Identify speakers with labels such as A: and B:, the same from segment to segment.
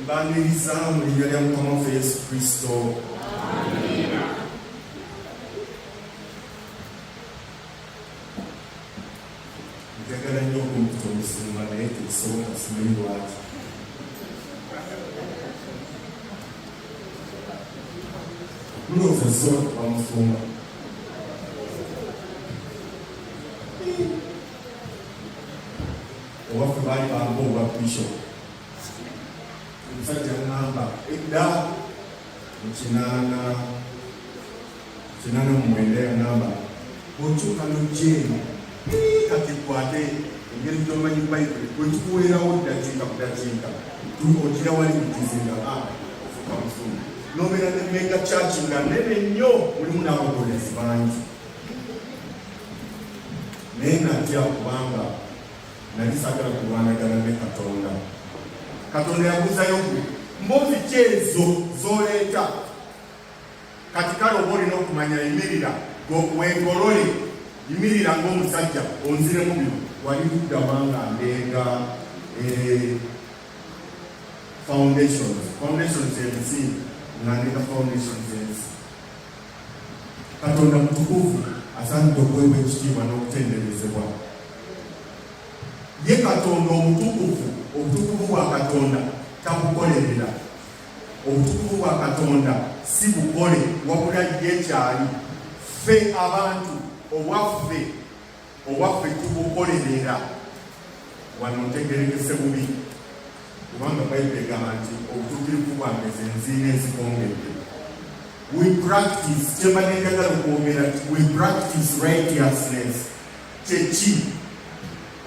A: mbaniriza mu linnya lya mukama waffe yesu kristo njagala nnyo okumputa omusumba naye tekisoboka simanyi lwaki mulowooza zisobola kuba musumba owaffe baali bamba obwa bishop omusajja ngamba edda mukinaana Kinana omwenda yagamba bw'okyuka n'ojja eno kati kwate engeri gy'omanyi bayibuli bwe tukuweerawo ddakiika ku ddakiika ogira wali mu kizinga a ofuka mufumu n'obeera ne mega kyaki nga nene nnyo mulimu n'abagoberezi bangi naye natya kubanga nali sagala kulwanagana ne katonda katonda yabuzayo gwe mbozi kyezo zoleeta kati kale oba olina okumanya yimirira wegolole yimirira ngaomusajja onziremu bino wali luddawa nga ndenga eh, foundations foundations ensingi nga ndenga foundations ensi katonda mutukuvu asaanidde okuweebwa ekitiibwa n'okutenderezebwa ye katonda omutukuvu obutukuvu bwa katonda takukolerera Obutukuvu bwa Katonda si bukole wabula ye kyali. Ffe abantu obwaffe obwaffe tubukolerera wano ntegerekese bubi kubanga bayibuli egamba nti obutuukirivu bwange ze nziina ezikongedde we practice kyembadde njagala okwogera nti we practice righteousness kyeki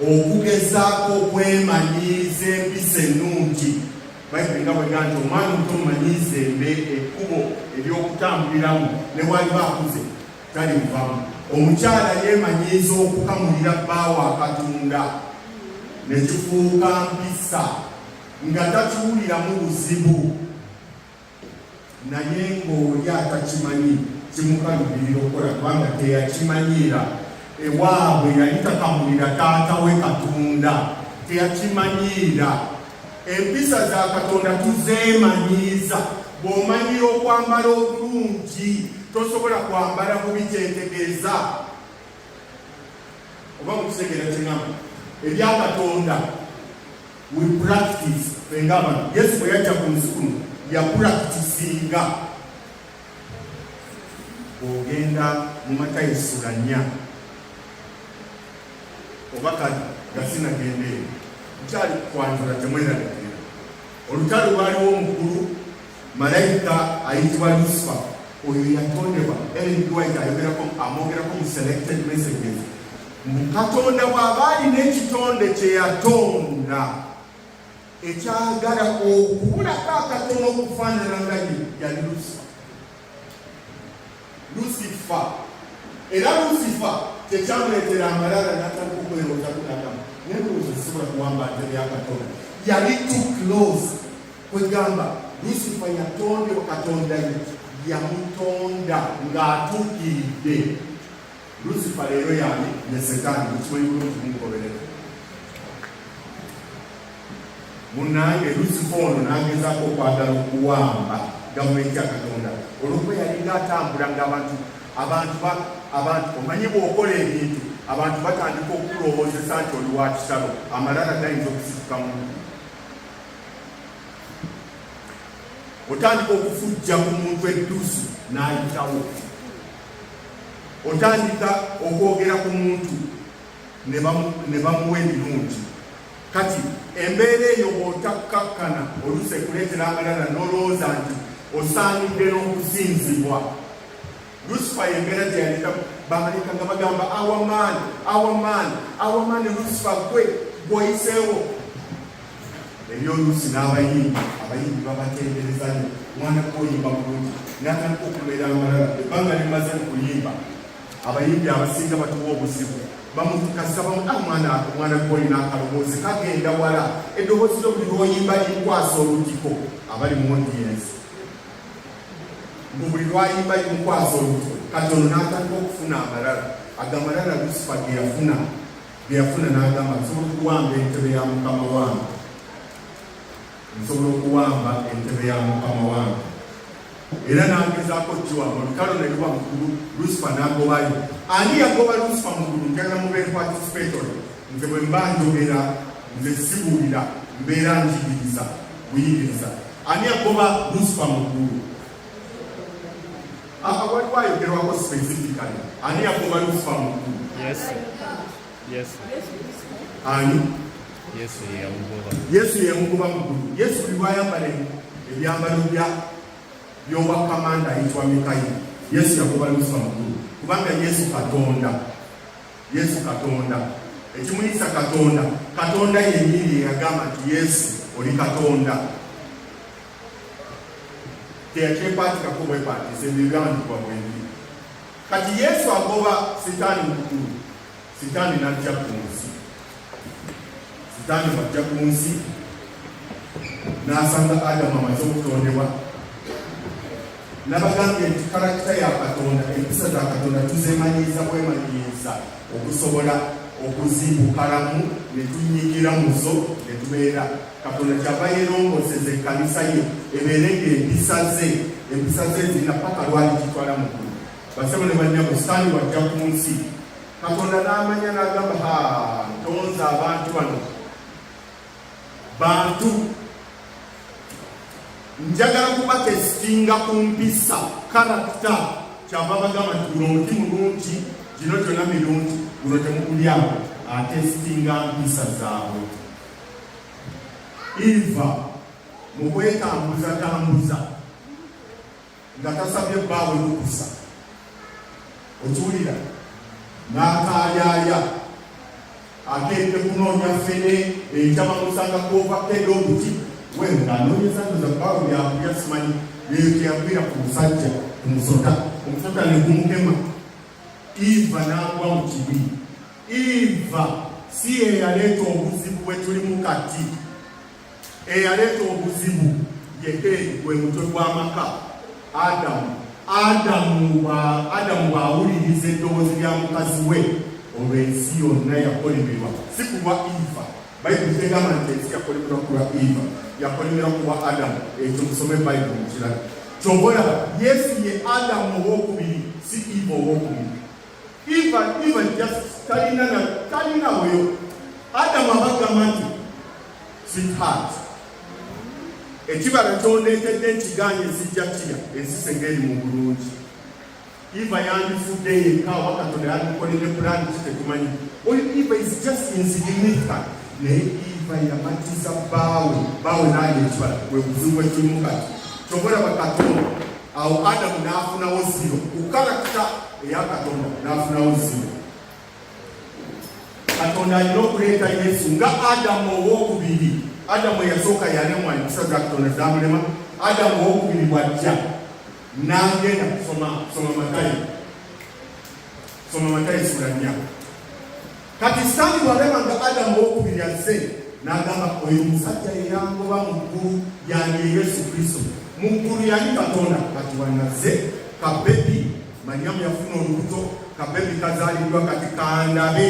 A: okugezaako okwemanyiiza empisa ennungi bayibuli nga bwega nti omwana omuto mumanyiiza embe ekkubo ery'okutambuliramu ne waliba akuze talimuvamu omukyala yeemanyiiza okukamulira bbaawo akatunda ne kifuuka mpisa nga takiwuliramu buzibu naye ng'oli atakimanyi kimukalubirira okukola kubanga teyakimanyiira ewaabwe yali takamulira taata we katonda teyakimanyiira empisa za katonda tuzeemanyiiza bw'omanyira okwambala obulungi tosobola kwambala bubi kyetegeeza oba mukitegeera kyenamu ebya katonda We practice fenga abantu Yesu bwe yajja ku nsi kuno yapractisinga ogenda mu Matayo sula nnya oba kati nga sinagenda eyo nkyali kwanjula temwerabikira olutalo lwaliwo omukulu Malayika ayitibwa Lusifa oyo yatondebwa Ellen White ayogerako amwogerako mu selected messages mu Katonda bw'aba alina ekitonde kye yatonda ekyagala okubulako akatono okufaanana nga yali Lusifa lusifa era lusifa tekyamuleetera amalala natandika okwerowooza kunadamu naye mulowooza sisobola kuwamba nte byakatonda yali too close kwegamba lusifa yatondeo katonda ye yamutonda ng'atuukiridde Lusifa leero yani ne setaani mukimanyi bulungi mumugoberera munange lusifa ono nagezako okwagala okuwamba gavumenti ya katonda olwokuba yalinga atambula ngaabantu abantu abantu omanyi bwokola ebintu abantu batandika okukulowoozesa nti oli wa kisalo amalala gayinza okusituka mu otandika okufujja ku muntu edduusi n'ayitawo otandika okwogera ku muntu ne bamuwa ebirungi kati embeera eyo bwotakkakkana oluusi ekuleetera abalala n'olowooza nti osaanidde n'okusinzibwa lusifa yembeera gyeyaleka baaleka nga bagamba awamaani awamaani awamaani lusifa gwe gwoyiseewo ebyoluusi n'abayimbi abayimbi babatendereza nyo mwana kuyimba bulungi natandika okubeera amalala ebbanga limaze mu kuyimba abayimbi abasinga batuwa obuzibu bamukasabamuamwana ah, mwana gwolina akaloboozi kagenda wala eddoboozi lyo buli lwoyimba limukwasa olugiko abali mu odiyensi mbu buli lwayimba limukwasa olugiko katono n'atandika okufuna amalala agamalala lusifa ge yafuna bye yafuna n'agamba nsobola okuwamba entebe ya mukama wange nsobola okuwamba entebe ya mukama wange era n'agezaako kiwa mu lutalo ne luba mukulu lusifa n'agobayo ani yagoba lusifa mukulu njagala mubeere patisipetole nze bwe mba njogera nze sibuulira mbeera njigiriza buyigiriza ani yagoba lusifa mukulu Aha waliwo ayogerwako specifically ani yakuba lufa mukulu Yesu Yesu ani Yesu yeyamugoba Yesu yeyamugoba mukulu Yesu biwayambale ebyambalo bya by'obwakamanda ayitibwa Mikayiri Yesu yakuba lufa mukulu kubanga Yesu Katonda Yesu Katonda ekimuyisa Katonda Katonda yennyini yeyagamba nti Yesu oli Katonda teyakyekwatikaku bwekwatisa ebyo ebyawandikibwa bwenjiri kati yesu agoba sitaani mukulu sitaani najja ku nsi sitaani bwajja ku nsi n'asanga adamu amaze okutondebwa nabagambye nti karakita ya katonda empisa za katonda tuzemanyiiza bwemanyiiza okusobola okuzibukalamu ne tunyigira muzo ne tubeera katonda kyava yeerongoseza ekkanisa ye ebeere ng'empisa ze empisa ze zirina paka lwali kitwala mu ggulu basebo ne bannyabo sitaani wajja ku nsi katonda n'amanya n'agamba ha ntonza abantu bano bantu njagala kubakesitinga ku mpisa karakita kyava bagamba nti guno omuti mulungi gino gyona mirungi guno temugulyako atesitinga mpisa zaabwe iva mu kwetambuzatambuza nga tasabye bbaawe lukusa okiwulira n'akaayaaya akedde kunoonya fene enjama musanga kuovakedde obuti we ng'anoonyeza ndoza bbaawe byakulya simanyi byeyogeyagwira ku musajja ku musota omusota ne gumukema iva n'agwa mu kibi Eva si eyaleeta obuzibu bwe tulimu kati. Eyaleeta obuzibu ye gwe mutwe gw'amaka Adamu. Adamu bw'awuliriza eddoboozi lya mukazi we, olwo ensi yonna yakolemerwa, si kulwa Eva. Bayibuli tegamba nti ensi yakolemerwa kulwa Eva, yakolemerwa kulwa Adamu. Ekyo musome Bayibuli mukirala. Kyobola Yesu ye Adamu ow'okubiri, si Eva ow'okubiri. Even even just talina na talina oyo Adamu abagamba nti sweetheart ekibala kyondeetedde nkigaanye ezijja kira ensisa engeri mu bulungi iva yandifudde yekka oba katonda yandikolede pulani kitetumanyi oyo iva is just insignifica naye iva yamatiza baawe baawe naali ekibala wekuzibu wekirimu kati kyobola bakatonda awo adamu n'afunawo ziro ku kalakita eya katonda n'afunawo ziro katonda alina okuleeta yesu nga adamu owokubiri adamu eyasooka yalemwa empisa za katonda zamulema adamu owokubiri bwajja nagenda kusoma soma matayo soma matayo sula nnya Kati Sitaani bw'alaba nga Adamu ow'okubiri azze, n'agamba oyo omusajja yeyangoba mu ggulu yange Yesu Kristo. Mu ggulu yali Katonda, kati wanazze kabebi. Manyamu yafuna olubuto, kabebi kazaaliddwa kati kandabe,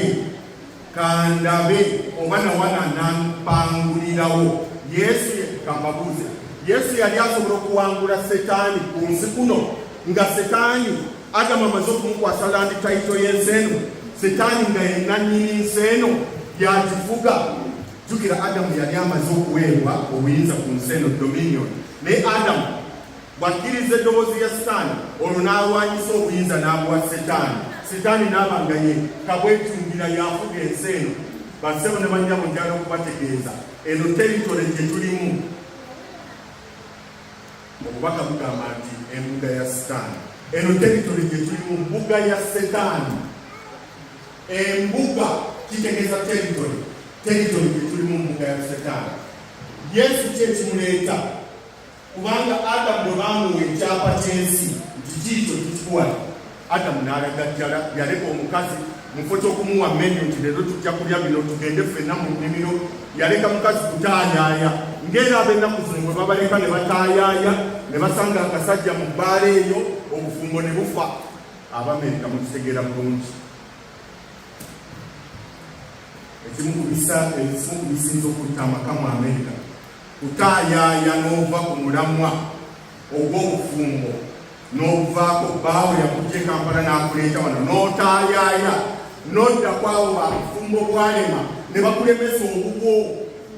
A: kandabe oba nawana nampangulirawo. Yesu kambabuuze, Yesu yali asobola okuwangula Setaani ku nsi kuno nga Setaani Adamu amaze okumukwasa landi tayito y'ensi eno, Setaani nga ye nnannyini nsi eno y'agifuga. Jjukira Adamu yali amaze okuweebwa obuyinza ku nsi eno, dominion. Naye Adamu bw'akkiriza eddoboozi ya Sitaani, olwo n'alwanyisa obuyinza n'abuwa Setaani. Setaani n'aba nga ye kabwetungira y'afuga ensi eno. Bassebo ne bannyabo njala okubategeeza eno teritole gye tulimu Obubaka bugamba nti embuga ya sitaani eno teritole gye tulimu mbuga ya setaani. Embuga kitegeeza teritole, teritole gye tulimu mbuga ya setaani. Yesu kye kimuleeta kubanga Adamu bwe baamuwa ekyapa ky'ensi nti kiikyo kikikuwala Adamu n'alagajjala, yaleka omukazi mufo ky'okumuwa menu nti leero tujja kulya bino tugende ffenna mu nnimiro. Yaleka mukazi kutaayaaya ng'era ab'ennaku zino bwe babaleka ne bataayaaya ne basanga akasajja mu bbaala eyo obufumbo ne bufa. Abamerika mukitegeera bulungi. Ekimu ku bisa ekimu ku bisinza okutta amaka mu Amerika kutaayaaya n'ova ku mulamwa ogw'obufumbo n'okuvaako bbaawo yakujja e kampala n'akuleeta wano n'otaayaaya n'odda kwawo bamufumba obwalema ne bakulemesa obubwo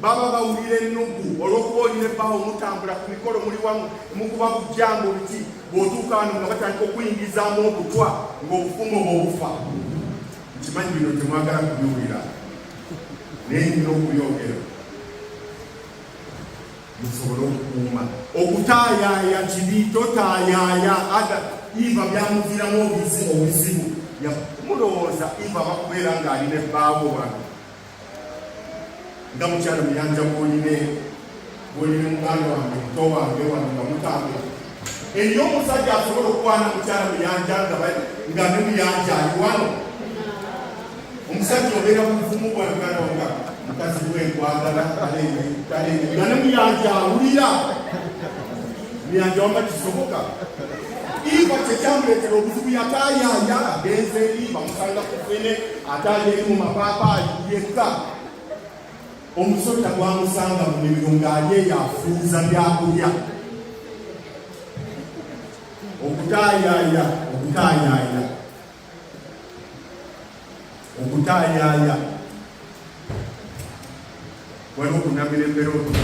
A: baba bawulira ennugu olw'okuba olina ebbaawo mutambula ku mikolo muli wamu mukuba kujjanga oluti bw'otuuka wano nga batandika okuyingizaamu okutwa ng'obufumu bw'obufa nkimanyi bino temwagala kubiwulira naye nina okuyogera musobole okukuuma okutaayaaya kibi totaayaaya ada iva byamuviramu obuzi obuzibu mulowooza iva bakubeera ng'ali ne bbaawo wano nga mukyalo muyanja bwoline bwoline muganda wange muto wange wano nga mutambula Eriyo omusajja asobola okukwana mukyala muyanja nga bali nga ne muyanja ali wano. Omusajja obeera mu buvumu bwa muganda wanga mukazi we nkwagala kaleere kaleere nga ne muyanja awulira muyanja wamba kisoboka iva kyekyamuleetera obuzibu yataayaaya agenze eri bamusanga ku fene ataayeeri mu mapaapaali yekka Omusota gwamusanga mu mimiro ng'ali eyo afuuza byakulya okutaayaaya okutaayaaya okutaayaaya waliwo kunamira embeera otuka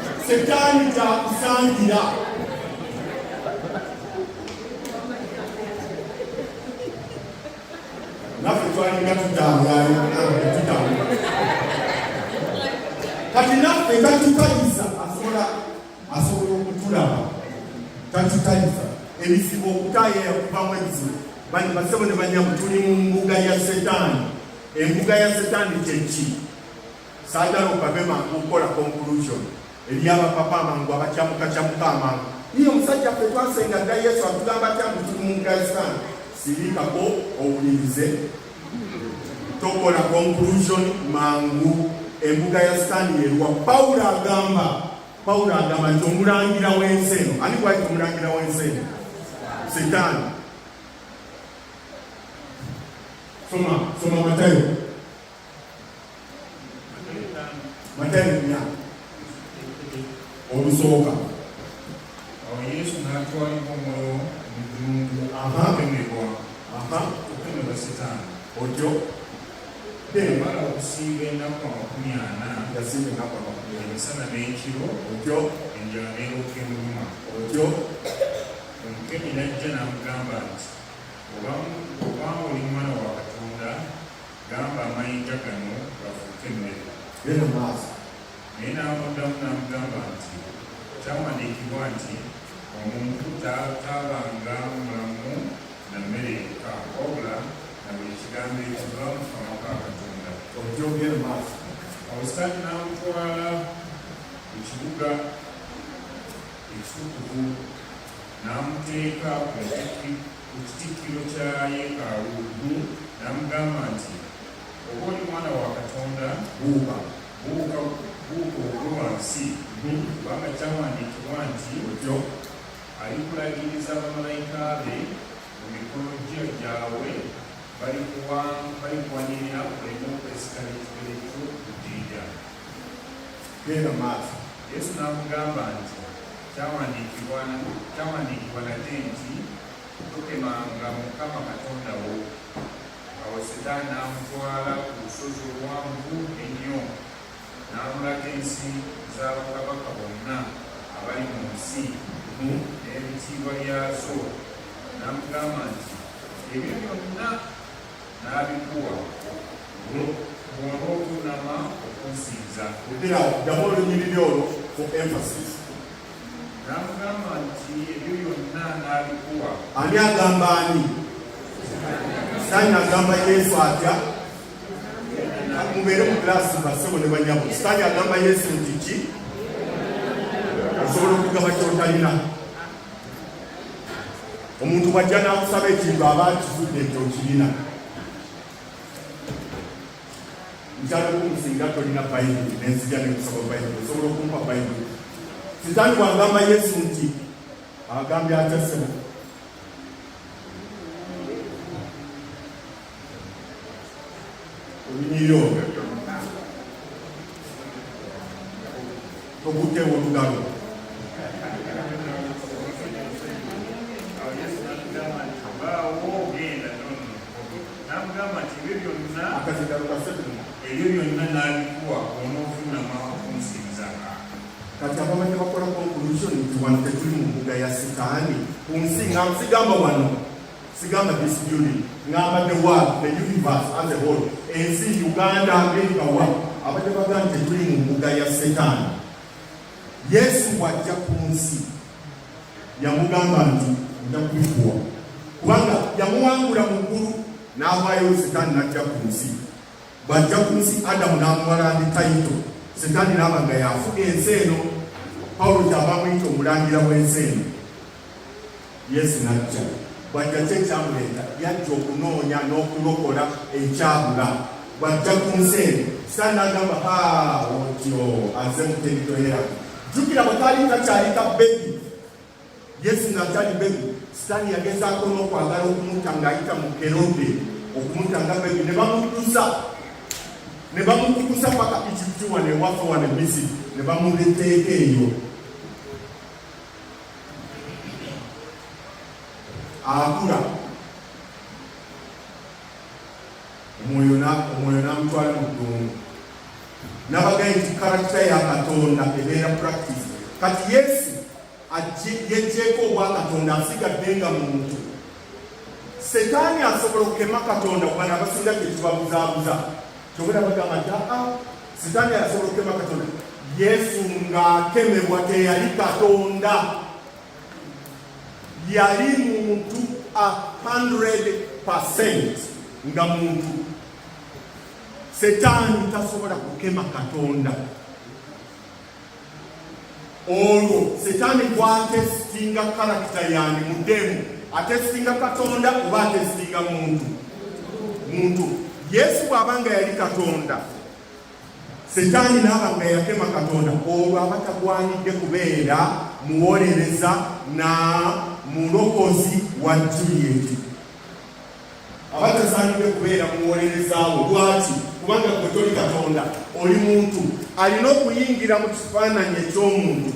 A: setaani gyakusangira naffe twalinga tutambulaatutambula kati naffe tatutayisa asobola asobola okutulaba tatutayisa ebizibu okutaye yakubamu ebizibu basebo ne banyamu tuli mu mbuga ya setaani embuga ya setaani kyeki saagala okave mangu okukola conclusion eri abapapa amangu abakyamukakyamuka amangu niye omusajja ffe twasenga dda yesu atugamba atya mbu tuli mu mukristaani sirikako owulirize tokola conclusion mangu embuga ya sitaani yeruwa pawulo agamba pawulo agamba nti omulangira w'ensi eno ani gwaki omulangira w'ensi eno sitaani soma soma matayo matayina olusooka
B: awo yesu n'atwalibwa omwoyo mu ddungu okukemebwa okukemebwa sitaani otyo bemala okusiiba ennaku amakumi ana yasiiba ennaku amakumi ana emisana n'ekiro otyo enjala n'eruka emuluma otyo omukemi n'ajja n'amugamba nti obanga oli mwana wa katonda Gamba amayinja gano gafuuke emmere. Genda mu maaso. Naye n'amuddamu n'amugamba nti, Kyawandiikibwa nti, Omuntu taabanga mulamu na mmere yokka, wabula na buli kigambo ekiva mu kamwa ka Katonda. Okyogera mu maaso. Awo Sitaani n'amutwala mu kibuga ekitukuvu n'amuteeka ku ntikki. ku kitikkiro kya yeekaalu Lubu n'amugamba nti, Oba oli mwana wa Katonda, buuka, buuka, buuka ogwe wansi, kubanga kyawandiikibwa nti, Otyo alikulagiriza bamalayika be mu mikono gye gyabwe, balikuwanirira oleme okwesika n'ekigere kyo ku jjinja. Genda mu maaso. Yesu n'amugamba nti. Kyawandiikibwa kyawandiikibwa nate nti tokemanga mukama katonda wo awo sitaani n'amutwala ku lusozi oluwanvu ennyo n'amulaga ensi za bakabaka bonna abali mu nsi n'ebitiibwa byazo n'amugamba nti ebyo byonna n'abikuwa bw'oba okunama okunsinza ebera ddamu olunyiriri olwo for emphasis n'amugamba nti ebyo byonna n'abikuwa ani agamba
A: ani sitaani agamba yesu atya mubeere mu giraasi basebo ne banyabo sitaani agamba yesu nti ki osobola okugaba kyotalina omuntu bwajja n'akusaba ekintu aba akizudde nti okirina nkyalikukusinga tolina bayibuli nenzija nekusaba bayibuli osobola okumpa bayibuli sitaani wagamba yesu nti agambye atasema olunyiyo tokutte
B: olugalo ebyo byonna nabikuwa onofunama okunsinzaka kati
A: ababadde bakola conclusion nti wano tetuli mu mbuga ya sitaani ku nsi nga nsigamba wano sigamba this building ngamba the world the universe as a whole ensi uganda america wa abadde baga nti tuli mu mbuga ya setaani yesu bwajja ku nsi yamugamba nti nja kubifuwa kubanga yamuwangula mu ggulu n'avaayo setaani n'ajja ku nsi bwajja ku nsi adamu n'amuwala ndi tayito setaani n'aba nga yafuka ensi eno pawulo kyava muyita omulangira w'ensi eno Yesu n'ajja bw'ajja kye kyamuleeta yajja okunoonya n'okulokola ekyabula bw'ajja ku nsi eno sitaani n'agamba ha otyo aze muteritoyera jjukira bwe kaali kakyali ka bebi yesu ng'akyali bebi sitaani yagezaako n'okwagala okumuta ng'ayita mu kerode okumuta nga bebi ne bamutusa ne bamukukusa paka ekitiwa ne wafa wa ne misiri ne bamuleteeka eyo akula omwoyo namutwala mu ddungu nabagaye nti karakita ya katonda ebeera practice kati yesu yejjeeko obwa katonda asigadde nga muntu setaani asobola okukema katonda kubana abasinga kyekibabuzaabuza kyobera bagamba nti aa ah, sitaani asobola okukema katonda yesu ng'akemebwa teyali katonda yali muntu a 100 nga muntu setaani tasobola kukema katonda olwo setaani gwatesitinga kalakita yange mudemu atesitinga katonda oba atesitinga muntu muntu yesu bw'aba nga yali katonda setaani n'aba nga yakema katonda olwo aba tagwanidde kubeera muwolereza na mulokozi wa julieti aba tasaanidde kubeera muwolereza wo. Lwaki? Kubanga gwe toli Katonda, oli muntu. Alina okuyingira mu kifaananyi eky'omuntu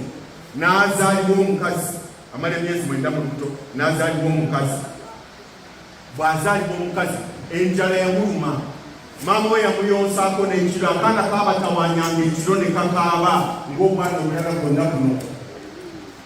A: n'azaalibwa omukazi, amala emyezi mwenda mu lubuto n'azaalibwa omukazi. Bw'azaalibwa omukazi, enjala yamuluma, maama we yamuyonsaako n'ekiro, akaana kaabatawanyanga ekiro ne kakaaba ng'obwana obulala bwonna buno.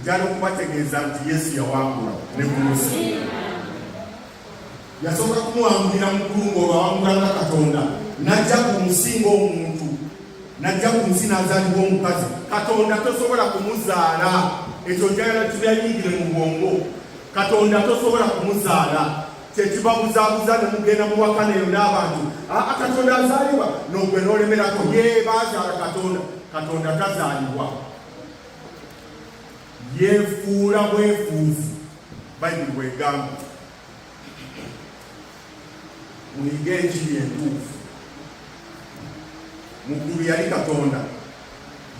A: njala okubategeeza nti Yesu yawangula ne ku nsi. Yasooka kumuwangulira mu ggulu ng'olwawangula nga Katonda, n'ajja ku nsi ng'omuntu, n'ajja ku nsi n'azaalibwa omukazi. Katonda tosobola kumuzaala, ekyo njagala tubyayingire mu bwongo. Katonda tosobola kumuzaala kyekibabuzabuza ne mugenda mu wakana eyo n'abantu aa ah, Katonda azaalibwa n'ogwe n'olemerako ye bazaala Katonda Katonda tazaalibwa yefuula bwefuuzi bayibuli bwegamba muyige enjiri entuufu muggulu yali katonda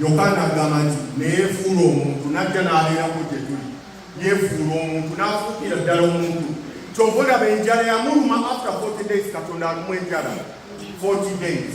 A: yokaana agamba nti neyefuula omuntu najja n'abeerako gye tuli yefuula omuntu n'afuukira ddala omuntu kyova olaba enjala yamuluma after 40 days katonda alumu enjala 40 days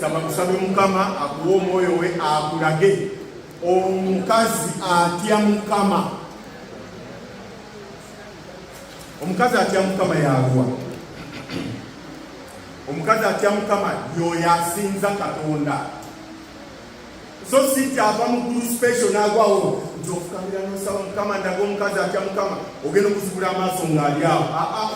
A: saba musabe mukama akuwa omwoyo we akulage omukazi atya mukama omukazi atya mukama yaluwa omukazi atya mukama yoyo asinza katonda so si kyava mu gulu special nagwawo nti ofukamira nosaba mukama ndaga omukazi atya mukama ogenda okuzibula amaaso ng'ali awo ah, ah.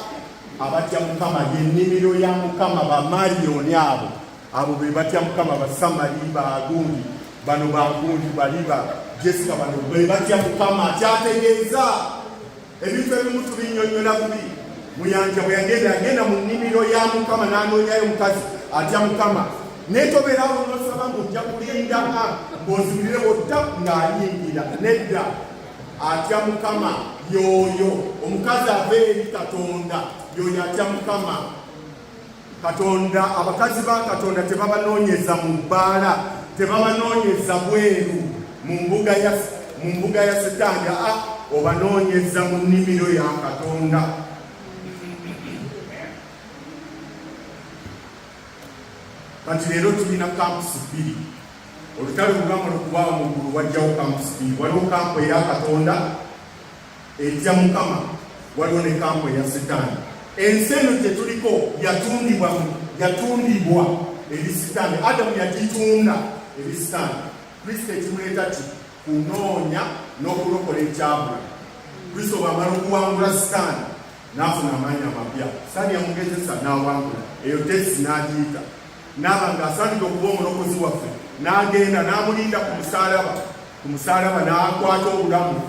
A: Abatya Mukama y'ennimiro ya Mukama, bamaliyoni abo abo be batya Mukama, basamali bagundi bano bagundi baliba jesika bano be batya Mukama. Kyategeeza ebintu ebimu tubinyonyola bubi. Muyanja bwe yagenda agenda mu nnimiro ya Mukama n'anoonyayo omukazi atya Mukama, naye tobeera awo n'osaba ng'ojja kulinda ng'ozibulire wotta ng'ayingira nedda atya mukama yoyo omukazi ava eri katonda yoyo atya mukama katonda abakazi ba katonda tebabanoonyeza mu bbaala tebabanoonyeza bweru mu mbuga ya mu mbuga ya sitaani a ah, obanoonyeza mu nnimiro ya katonda kati leero tulina kampusi bbiri Olutalo olugamba lukubaawo mu ggulu wajjawo kampusi bbiri. Waliwo kampu eya Katonda etya Mukama, waliwo ne kampu eya Sitaani. Ensi eno gye tuliko yatundibwa yatundibwa eri Sitaani. Adamu yagitunda eri Sitaani. Kristo ekimuleeta ki kunoonya n'okulokola ekyabula. Kristo bw'amala okuwangula Sitaani n'afuna amaanyi amapya. Sitaani yamugezesa n'awangula, eyo tesi n'agiyita n'aba ng'asaanidde okuba omulokozi waffe n'agenda n'amulinda ku musaalaba ku musaalaba n'akwata obulamu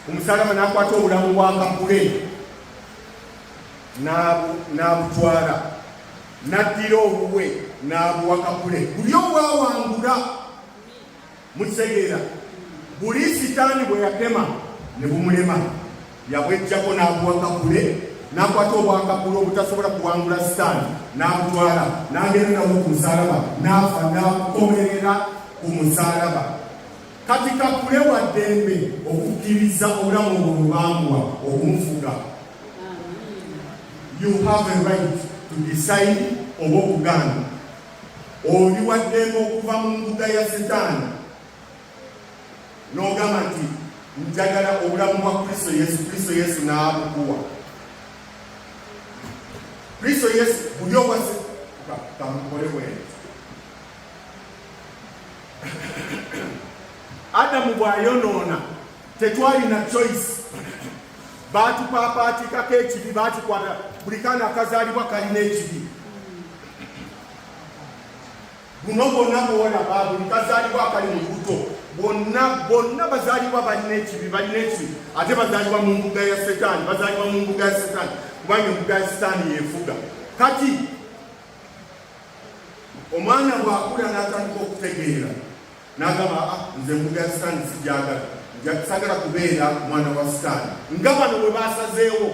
A: ku musaalaba n'akwata obulamu bwa kakule n'abutwala n'addira obubwe n'abuwa kakule buli obwawangula Mukitegeera, buli sitaani bwe yatema ne bumulema, yabwejjako n'abuwa Kakule, n'akwata obwakakule obutasobola kuwangula sitaani, n'abutwala n'agenda nabwo ku musaalaba, n'afa n'akomerera ku musaalaba. Kati Kakule wa ddembe okukkiriza obulamu obwo bwe baamuwa okumufuga. You have a right to decide oba okugaana. Oli waddembe okuva mu mbuga ya Sitaani n'ogamba nti njagala obulamu bwa Kristo Yesu, Kristo Yesu n'abukuwa. Kristo Yesu buli owase kamukole bwene. Adamu bw'ayonoona Tetwalina choice, baatupaapaatiikako ekibi, baatukwata buli kaana akazaalibwa kalina ekibi. Buno bwonna bwolaba buli kazaalibwa akali mu lubuto bwonna bwonna bazaalibwa balina ekibi, balina ekibi ate bazaalibwa mu mbuga ya setaani, bazaalibwa mu mbuga ya setaani kubanga embuga ya setaani yeefuga kati omwana bw'akula n'atandika okutegeera n'agamba ah, nze embuga ya sitaani sigyagala sagala kubeera mwana wa sitaani nga bano bwe basazeewo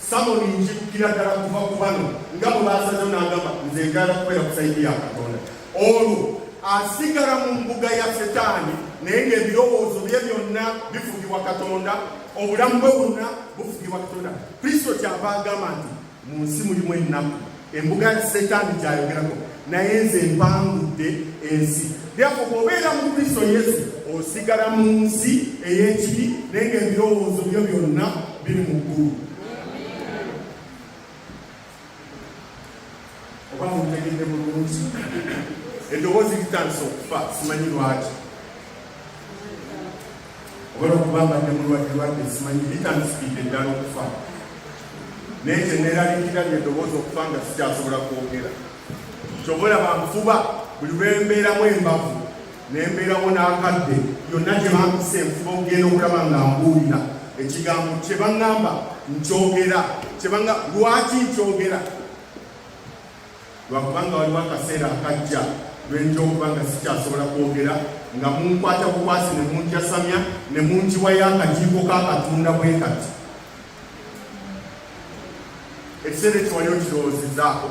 A: samoni njikukira ddala kuva ku bano nga bwe basazeewo n'agamba nze njagala kubeera ku sayidi ya katonda olwo asigala mu mbuga ya setaani naye ng'ebirowoozo bye byonna bifugibwa katonda obulamu bwe bwonna bufugibwa katonda kristo kyava agamba nti mu nsi mulimu ennaku embuga ya setaani gyayogerako naye nze mpangudde ensi lyako bwobeera mu kristo yesu osigala mu nsi ey'ekibi naye nga ebirowoozo byo byonna biri mu ggulu oba mutegedde bulungi eddoboozi litandisa okufa simanyi lwaki obala okuba nga ne mulwadde lwadde simanyi bitandisikidde eddala okufa naye kyeneeraliikira lye ddoboozi okufa nga sikyasobola kwogera kyova olaba nfuba buli lwembeeramu embavu nembeerawo n'akadde yonna gye bampisa enfuba okugenda okulaba nga mbuulira ekigambo kye baŋŋamba nkyogera kyebanga lwaki nkyogera lwakubanga waliwo akaseera akajja lwentya okuba nga sikyasobola kwogera nga munkwata bukwasi ne munjasamya ne munjiwayo akajiiko kakatunda bwe kati ekiseera ekyo wali okirowoozezaako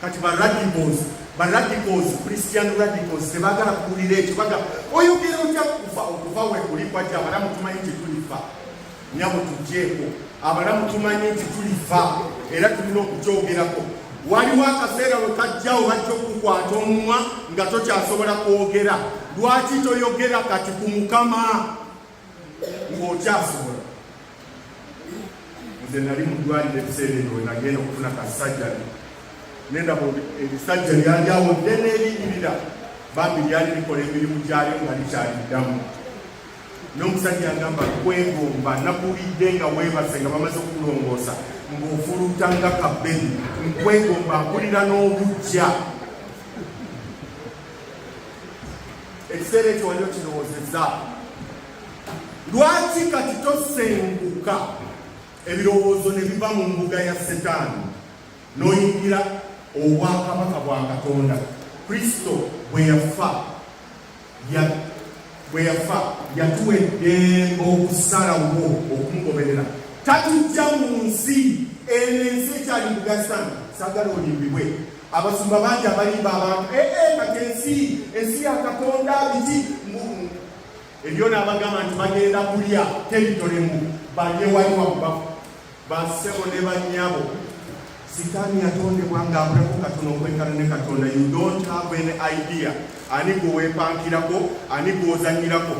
A: kati ba radicals ba radicals christian radicals tebagala kuwulira ekyo baga oyogera otya kufa okufa wekuli kwajja abalamu tumanyi kyetulifa nyabo tujeeko abalamu tumanyi nti tulifa era tulina okukyogerako waliwo akaseera we kajjawo bajja okukwata omumwa nga tokyasobola kwogera lwaki toyogera kati ku mukama ng'okyasobola nze nali mudwaliro ebiseera ebyo wenagenda okufuna kasajjani nendaba ebisajja lyali awo ddene erinyirira bambi lyali likola emirimu gyayo nga likyaliddamu n'omusajja agamba kwegomba nakuwulidde nga weebase nga bamaze okulongoosa ng'ofuluuta nga kabbeni nkwegomba nkulira n'obujja ekiseera ekyo wali okirowoozeza lwaki kati tosenguka ebirowoozo ne biva mu mbuga ya setaani n'oyingira obwakabaka bwa katonda kristo bwe yafa bwe yafa yatuwa eddembe okusalawo okumugoberera tatujja mu nsi eno ensi ekyali mugasitani sagala olimbibwe abasumba bangi abalimba abantu ee eh, eh, kati ensi ensi ya katonda biki ebyo naabagamba nti bagenda kulya teritolemu balye wali wakubafu Bassebo ne bannyabo, sitaani yatondebwa ng'akulako katono okwekana ne Katonda. You don't have any idea ani gwe weepankirako, ani gw'ozannyirako.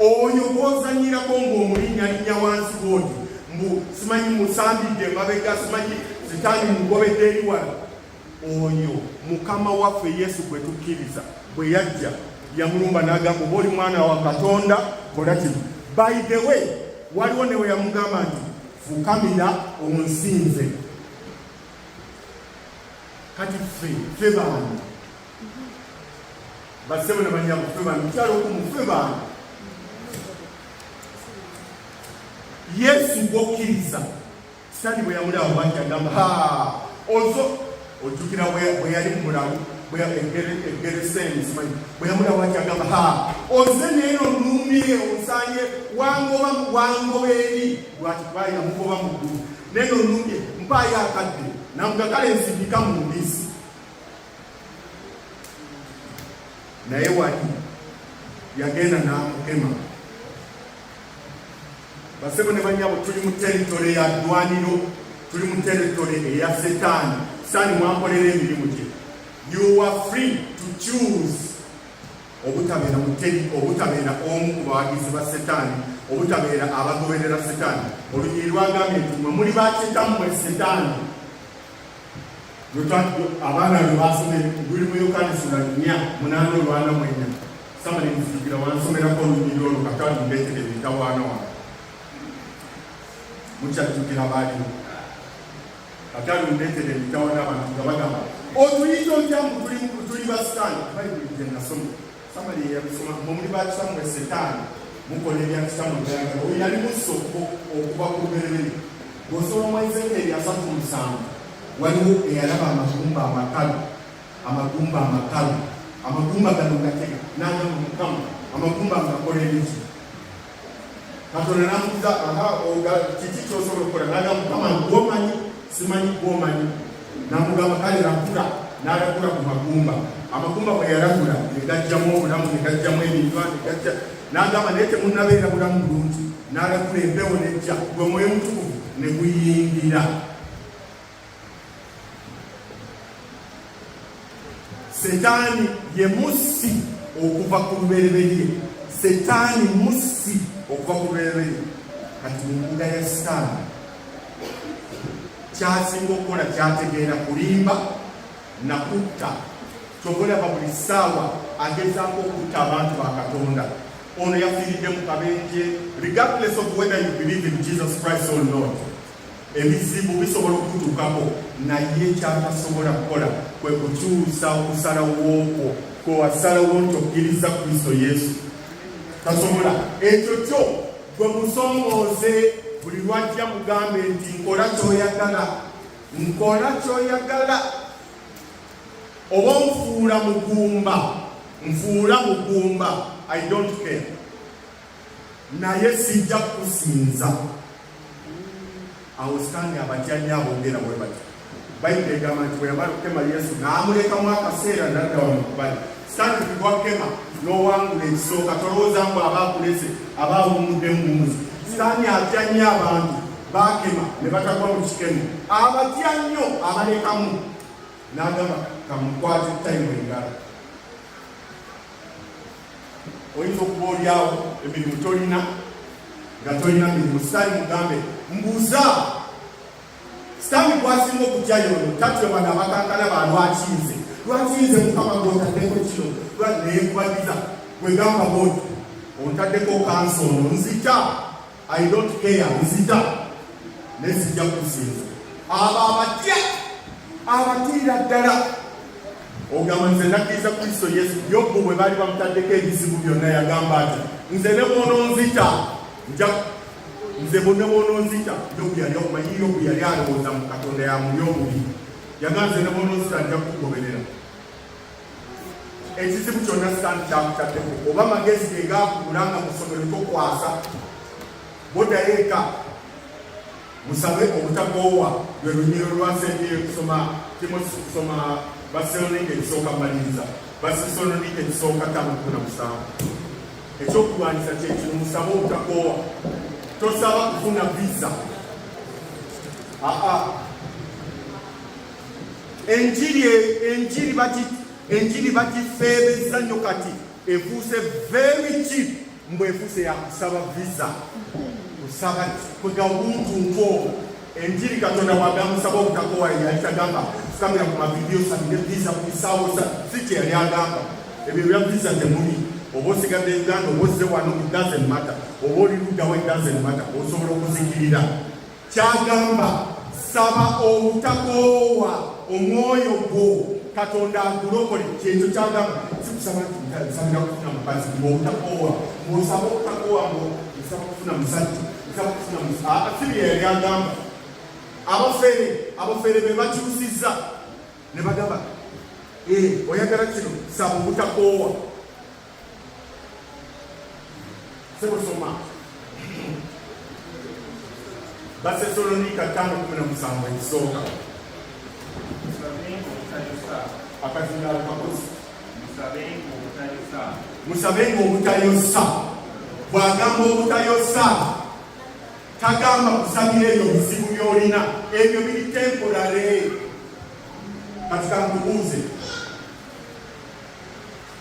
A: Oyo gw'ozannyirako ng'omulinnyalinnya wansi bw'oti mbu simanyi musambidde emabega, simanyi sitaani mugobedde eri wala. Oyo mukama waffe Yesu gwe tukkiriza bwe yajja yamulumba n'agamba oba oli mwana wa Katonda kola kino. By the way, waliwo ne we yamugamba nti fukamira onsinze. Kati ffe ffe baani basebo ne banyabo ffe baani mukyalo okumu ffe baani Yesu gwokkiriza Sitani bwe yamulaba bwati agamba ha ozo ojjukira bwe yali mu bulamu egereseeni simanyi bwe yamulaba bwati agamba ha oze neero nuumye onsanye wangoba wangoba eri lwati kuba yamugoba mu ggulu neero nuumye mpaayo akadde namugakale nsindika mu mbisi naye wali yagenda n'amukema Basebo ne banyabo tuli mu territory ya ddwaniro, tuli mu territory eya setaani. Sitaani mwakolera emirimu gye. You are free to choose obutabeera muteri, obutabeera omu ku bawagizi ba setaani, obutabeera abagoberera setaani. Olunyiriri lwagambye nti mwe muli bakitammwe setaani. abaana be baasoma luli mu yokaana essula nnya munaana olwana mu ennya sama ne nzijukira wansomerako olunyiri olwo kakalu mbeetere ebitawaana wano mukyajjukira baaliwo kakalu mbeetere ebitawaana abantu nga bagamba otuyinza otya mbu tuli basitaani bayibuli gye nasoma samali yabisoma mumuli bakisamu esetaani mukola ebyakisamu byanga oyo yali musa okuva ku luberere bwosoma mu ezekeeri asatu musanvu waliwo eyalaba amagumba amakalu amagumba amakalu amagumba gano gatega nagamba mukama amagumba ngakola ebiki katonda namubuza aha oga kiki kyosobola okukola naga mukama gwomanyi simanyi gwomanyi namugamba kale nakula nalakula ku magumba amagumba bwe yalakula negajjamu obulamu negajjamu ebintu negajja nagamba naye temunabeera bulamu bulungi nalakula empewo nejja gwe mwoyo mutukuvu neguyingira setaani ye mussi okuva ku lubereberye setaani mussi okuva ku lubereberye kati mumbuga ya sitaani kyasinga okukola kyategeera kulimba nakutta kyovolaba buli ssaawa agezaako okutta abantu ba katonda ono yafiiridde mu kabenje regardless of whether you believe in jesus christ or not ebizibu bisobola okukutuukako naye ekyatasobola kukola kwe kukyusa okusalawookwo kwe wasalawo nti okkiriza kristo yesu tasobola ekyo kyo gwe musomooze buli lwajja mugambe nti nkola kyoyagala nkola kyoyagala oba nfuula mugumba nfuula mugumba i don't care naye sijja kusinza awo sitani abatyanya abongera bwe bati bayibuli egamba nti bweyamala okukema yesu n'amulekamu akaseera nadda wamukubali sitani kugwakukema n'owangula ekisooka tolowooza mbu aba akulese aba awumudde mumuzi sitani atya nnyo abantu bakema ne batagwa mu kikemo abatya nnyo abalekamu n'agamba kamukwate tayimu engalo oyinza okuba olyawo emirimu tolina nga tolina mirimu sitani mugambe mbuuza sitani gwasinga okutya yono tatya bana abakankana ba lwaki nze lwaki nze mukama gwotaddeko kino naye nkubagiza gwegamba bwoti ontaddeko kansi ono nzita I don't care nzita naye sijja kusinza abo abatya abatiira ddala ogamba nze nakkiriza kristo yesu yobu bwe baali bamutaddeko ebizibu byonna yagamba ati nze ne bwononzita nja nze bone bwononzita yobu yali omanyi yobu yali alowooza mu katonda yamuli obubi yagamba nze ne bwononzita nja kukugoberera ekizibu kyonna sitaani kyakutaddeko oba magezi ge gaakubula nga musomero tokwasa bodayo eka musabe obutakoowa lwe lunyiro lwasembyeyo kusoma timosi kusoma baselonika ekisooka maliriza basesononika ekisooka tamukuna musanvu ekyokulwanyisa kyekino musabe obutakoowa tosaba kufuna visa aa Enjiri enjiri bati enjiri bagifeebezza nnyo kati efuuse very cheap mbu efuuse yakusaba visa kusaba kwega omuntu nkoo enjiri katonda wagamusaba obutakowa yali tagamba tukamira ku mavidiyo sabire visa ku bisaawo si kye yali agamba ebyo bya visa temuli oba osigadde uganda oba ozze wano it doesn't matter oba oli luddawa it doesn't matter osobola okuzikirira kyagamba saba obutakoowa omwoyo gwo katonda agulokole kyekyo kyagamba sikusaba nsabira kufuna mukazi obutakoowa osaba obutakoowa ngo nsaba kufuna musajja nsaba kufuna musajja siri yeyali agamba abafere abafere be bakyusiza ne bagamba eh, oyagala kino saba obutakoowa Sebo soma. Basesalonika tano kumi na musanvu ekisooka akazindalo kakozi musabenga obutayosa bwagamba obutayosa tagamba kusabira ebyo bizibu byolina ebyo biri temporary kati kankubuuze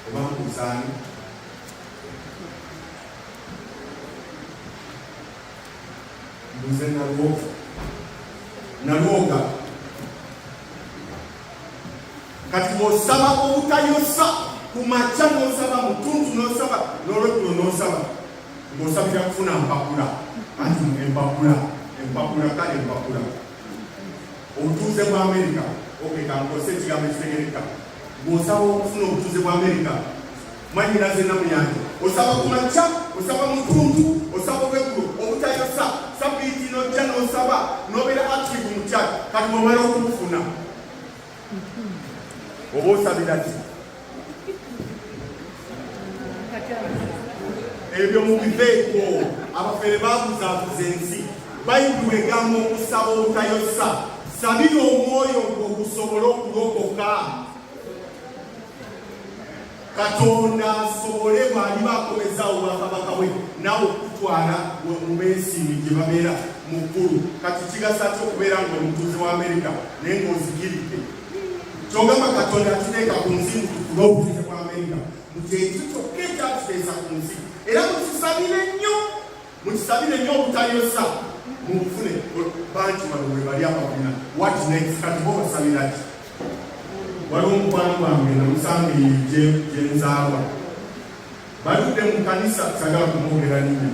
A: oba mukuzaani mbuze nalwoga nalwoga kati bwosaba obutayosa ku makya nosaba mutuntu nosaba nolokulo nosaba ngosabira kufuna mpapula anti empapula empapula kale empapula obutuuze bwa amerika okeka nkozesa ekigambo ekitegereka ng'osaba okufuna obutuuze bwa amerika mwanyinaze namuyange osaba ku makya osaba mutuntu osaba obweggulo obutayosa sabiiti nojja n'osaba n'obeera active mu kyalo kati bwomala okubufuna oba osabira ki ebyo mubiveeko abafere babuzabuza ensi bayibuli egamba okusaba obutayosa sabira omwoyo gwo gusobole okulokoka katonda asobole bwaliba akomezawo bwakabaka bwe nawe okutwala wemubeesiimi gye babeera mu ggulu kati kigasa ki okubeera nga omutuuzi wa amerika naye ngaozigiridde kyogamba katonda atuteeka ku nsi mutukula obuteke bwa amerika mukyekyo kyokka ekyatuteesa ku nsi era mukisabire nnyo mukisabire nnyo obutayosa mubufune bantu bano webali ababina wat next kati bo basabiraki waliwo omukwano gwange namusanga eyije gyenzaalwa baludde mu kanisa sagala kumwogera ninya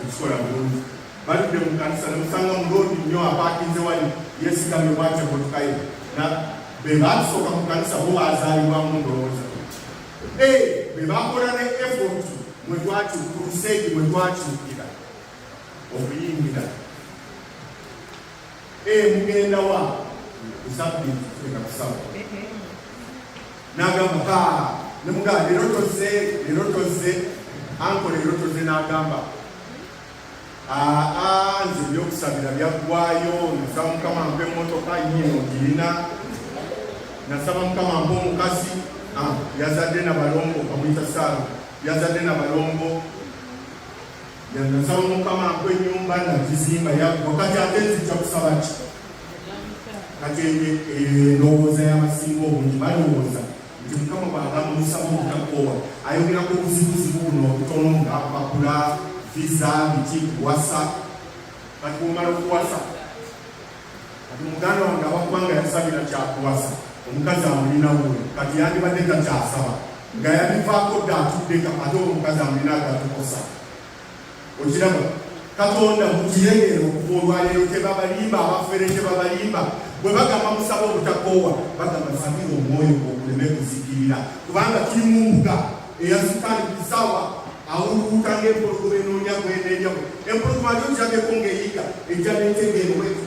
A: ekikola bulungi baludde mu kanisa ne musanga mu loodi nnyo apaakinze wali yeesigamye bwatyo emotokaye na be baasooka mu kanisa bo baazaalibwamu ndowooza e be bakola ne efort mwe twatu kuruseegi mwe twatuukira okuyingira e mugenda wa kusabbi tufika kusaba n'agamba ka ne mugamba leero tozze leero tozze ankola leero tozze n'agamba Aa nze ebyokusabira byaggwayo nasaba mukama mpa emmotoka yiino ogirina nasaba mukama mpa omukazi ah, yazadde na balongo bamuyita saala yazadde na balongo yanasaba mukama mpa ennyumba nagizimba yaggwa kati ate nzija kusaba ki kati eyo endowooza y'abasinga obungi balowooza nti mukama bwagamba omusaba obutakoowa ayogera ku buzibuzibu buno obutono nga mpapula visa biki kuwasa kati bwomala okuwasa kati muganda wange awaggwanga yasabira kyakuwasa omukazi amulinawo kati yandibadde takyasaba nga yabivaako dda atuddeka ate omukazi amulina agatukosa okiraba katonda mukiyegere okuva olwaleero tebabalimba abafere tebabalimba bwe bagamba musaba obutakoowa bagamba sabira omwoyo gwokuleme kuzikirira kubanga tuli mu mbuga eyasukali kusawa awuluwuka ngaempologoma enoonya gweneeryamu empologoma lyo njageko ngaeyiga ejja netegeerweko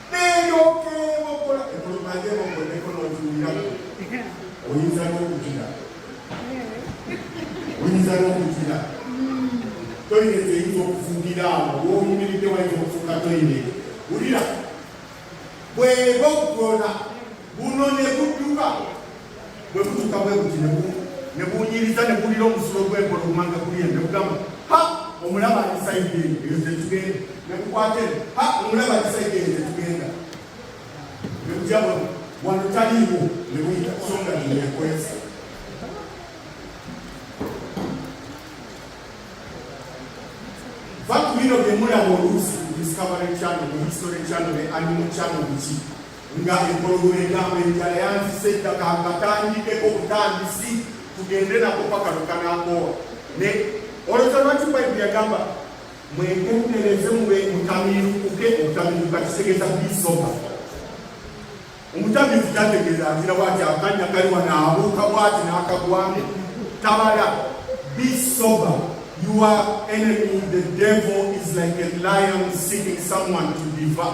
A: oyinza n'okutira oyinza n'okutira toyinza eyinza okufugira awo w'oyimiridde wayinza okufuka toyinza wulira bweba okugona buno ne budduka bwe butuka bwe buti ne bunyiriza ne bulira omusulo gw'enkola okumanga kuli ne bugamba ha omulaba alisayidde eyo ze tugenda ne bukwate ha omulaba alisayidde eyo ze tugenda ne bujja bwe wano taliiwo ne buyita songa neyekwesa va ku bino bye mulaba oluusi discovery channel mu history channel ne animal channel biki nga empologoma egamba enjala yanzisa ettaka ngatandikeko obutandisi tugende nako paka lukanakowa ne olowooza lwaki bayibuli yagamba mwegendereze mube mutamirukuke obutamiruka kitegeza bisoka omutamivu tategeeza azira bwati akanya kali wano abuuka bwati n'akagwamu tabala bisoba your enemy the devil is like a lion seeking someone to devour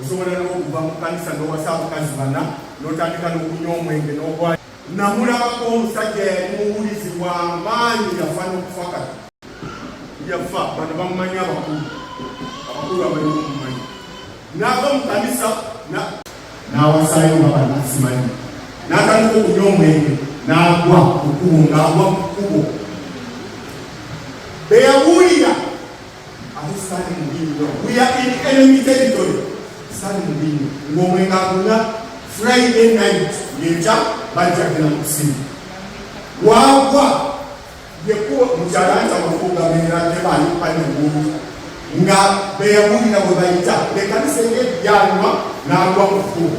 A: osobola n'okuva mu kanisa n'owasa abukazi bana n'otandika n'okunywa omwenge n'ogwa namulabako omusajja yali muwulizi wa maanyi yafa n'okufa kati yafa bano bamumanyi abakulu abakulu abali omumanyi n'ava mu kanisa n'awasayo nga banasimanyi n'atandika okunywa omwenge n'agwa kukubo ng'agwa ku kukubo beyabuulira ate sitaani mubi nnyo we are in enemy territory sitaani mubi nnyo ng'omwenga agunya friday night ngenkya bajja genda mu kusimu waagwa yekuwa mukyalanja wafuuga beera tebaayo panya muntu nga beyawulira bwe bayita lekanisa eri ebyaluma n'agwa mu kufuuga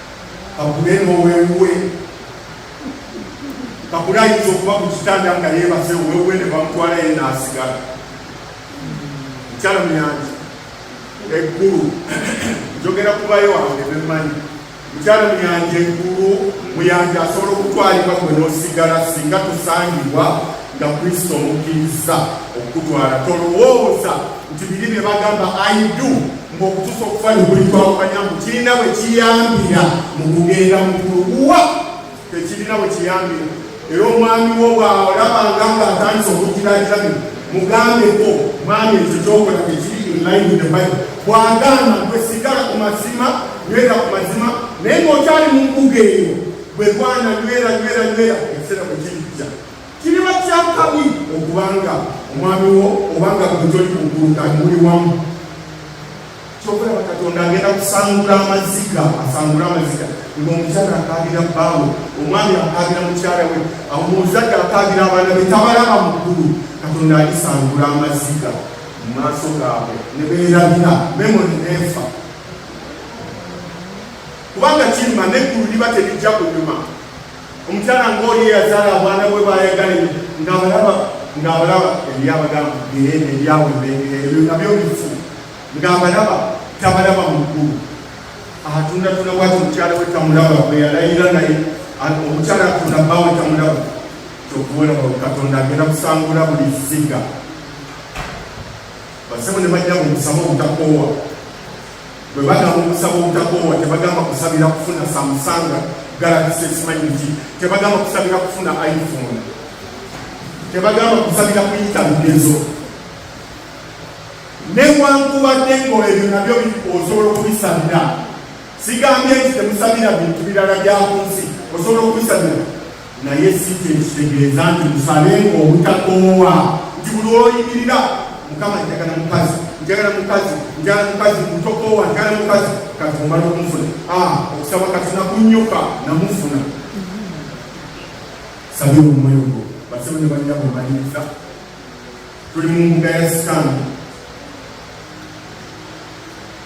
A: kakule nowewuwe kakule ayinza okuba ku kitanda nga yebase owewuwe ne bamutwala ye nasigala mukyala muyanji eggulu njogera kubayo wange bemanyi mukyala muyanji eggulu muyanji asobola okutwalibwa gwe nosigala singa tusangibwa nga kristo omukkiriza okukutwala tolowooza nti biri bye bagamba aidu ng'okutuusa okufa nebuli twawukanya mbu kirina bwe kiyambira mu kugenda mukuluwa tekirina bwe kiyambira era omwami wo bwalabanga nga atandisa okugiragira bino mugambeko mwami ekyo kyokola tekiri inline with the bible bwagamba gwe sigala ku mazima nywera ku mazima naye ng'okyali mu mbuga eyo bwe gwana nywera nywera nywera ekiseera bwe kiri Kiriba kya kabi okubanga omwami wo obanga gujoli kuguluka muli wamu kyokulaba katonda agenda kusangula amaziga asangula amaziga ngaomukyala akaabira bbaawe omwami akaabira mukyala we omuzadde akaabira abaana be tabalaba mukulu katonda alisangula amaziga mu maaso gaabwe ne beerabira memoni neefa kubanga kirima neggulu liba terijja kunyuma omukyala ng'oli eyazaala obwana bwe bwayagale ng'abalaba ng'abalaba ebyabagamba geene ebyawe ebengera ebyo nabyo bifu ng'abalaba tabalaba mu ggulu atundatunda bwati omukyala we tamulaba bwe yalayira naye omukyala atunda bbawe tamulaba kyokuwera katonda agenda kusangula buli zziga Basebo ne bajja mu kusaba obutakoowa. Bwe bagamba okusaba obutakoowa, tebagamba kusabira kufuna Samsung Galaxy simanyi ki, tebagamba kusabira kufuna iPhone, tebagamba kusabira kuyita bigezo. Newankubadde ng'ebyo nabyo osobola okubisabira, sigambye nti temusabira bintu birala bya ku nsi, osobola okubisabira naye si kye kitegeeza nti musabe obutakoowa nti buli oyimirira mukama njagala mukazi njagala mukazi njagala mukazi mutokoowa njagala mukazi kati omala okumufuna ah, okusaba kati nakunyuka namufuna sabira omwoyo gwo basebe ne banyabo omaliriza tuli mu mbuga ya sitaani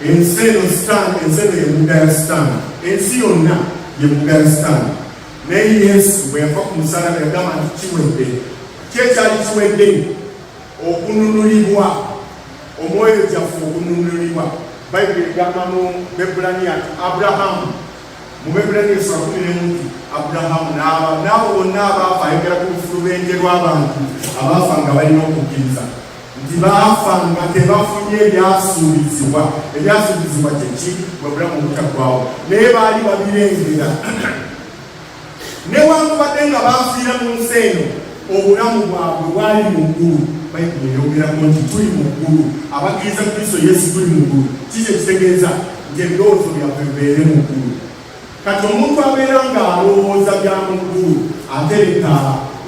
A: ensi eno sitaani ensi eno yembuga ya sitaani ensi yonna yembuga ya sitaani naye yesu bwe yava ku musalaba yagamba nti kiwedde kyekyali kiwedde okununulibwa omwoyo gyaffe okununulibwa bayibuli egamba mu bebulaniya ti aburahamu mu Baibulani esula kumi n'emuti Aburahamu n'aba n'abo bonna abaafa ayogera ku lufulubende lw'abantu abaafa nga balina okukkiriza nti baafa nga tebafunye ebyasuubizibwa ebyasuubizibwa kyeki bwe bulamu obutaggwawo naye baali babirengera newankubadde nga baafiira mu nsi eno obulamu bwabwe bwali mu ggulu bayibuli eyogerako nti tuli mu ggulu abakkiriza kristo yesu tuli mu ggulu kiki ekitegeeza nti ebirowoozo byaffe bibeere mu ggulu kati omuntu abeera ng'alowooza bya mu ggulu ate leka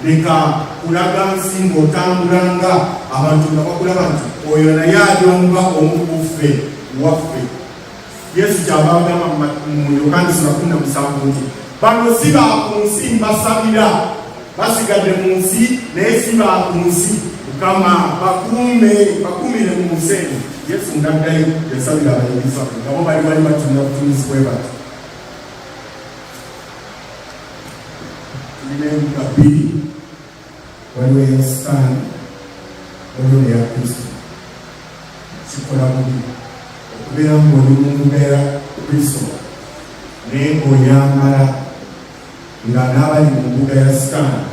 A: leka kulaga nsi ng'otambula nga abantu nga bakulaba nti oyo naye alyomba omu kuffe waffe Yesu kyava agamba mu Yokaana sula kumi na musanvu nti bano si ba ku nsi mbasabira, basigadde mu nsi naye si ba ku nsi. Mukama bakuume, bakuumire mu nsi eno. Yesu ng'addayo yasabira abayigirizwa be nga bo bali wali batunula butunuzi bwe bati tulina enkuba bbiri waliwo eya sitaani waliwo neya kristo kikola bubi okubeera ngaoli mu mbeera kristo naye ngaoyambala nga n'abali mu mbuga ya sitaani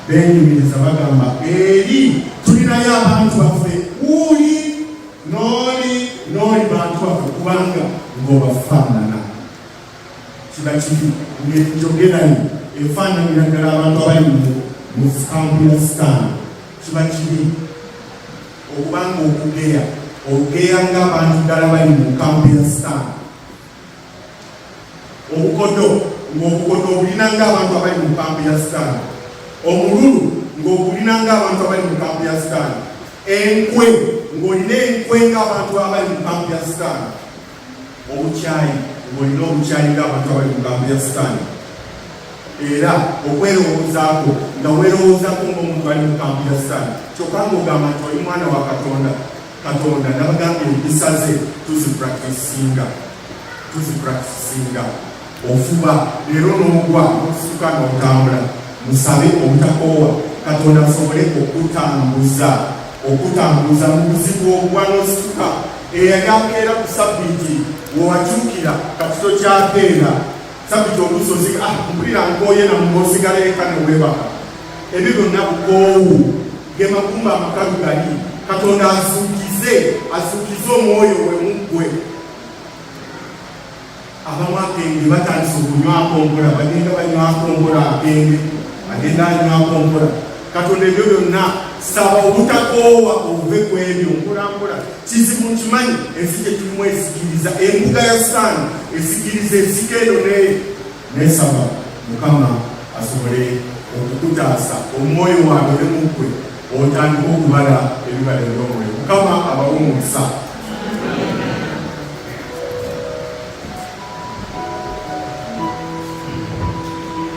A: benyumiriza bagamba eri tulinayo abantu baffe uli nooli nooli bantu baffe kubanga ngobafaanana kibakibi ng'enjogeranyo efaananira ddala abantu abali mu kampu ya sitaani kiba kibi okubanga okugeya olugeya ng'abantu ddala bali mu kampu ya sitaani obukodo ng'obukodo obulina ng'abantu abali mu kampu ya sitaani omululu ng'ogulina ng'abantu abali mu kampu ya sitaani enkwe ng'olina enkwe ng'abantu abali mu kampu ya sitaani obukyayi olina obukyayi ng'abantu abali mu gambo ya sitaani era okwerowoozaako nga weerowoozaako ng'omuntu ali mu kampu ya sitaani kyokka ng'ogamba nti oli mwana wa katonda katonda nabagamba empisa ze tuzipractisinga tuzipractisinga ofuba leero n'ogwa n'okufuuka n'otambula musabe obutakoowa katonda asobole okutambuza okutambuza mu buzibu obwa n'osituka eyali akeera ku sabbiiti wewakyukira kati tokyakeera sabbiiti olusozi ah, mpulira nkooye namuosigala eka newebaka ebyo byonna bukoowu ge magumba amakalu gali katonda azuukize azuukize omwoyo we muggwe abamu akenge batandise okunywako mpola bagenda banywako mpola akenge agenda anywako mpola katonda ebyo byonna saba obutakoowa obuve ku ebyo mpolampola kizibu nkimanyi ensi gyetulimu esikiriza embuga ya sitaani esikiriza ensika eyo neyo nesaba mukama asobole okukutaasa omwoyo waabwe ne muggwe otandika okubala ebibala ebyomwoyo mukama abawa omukisa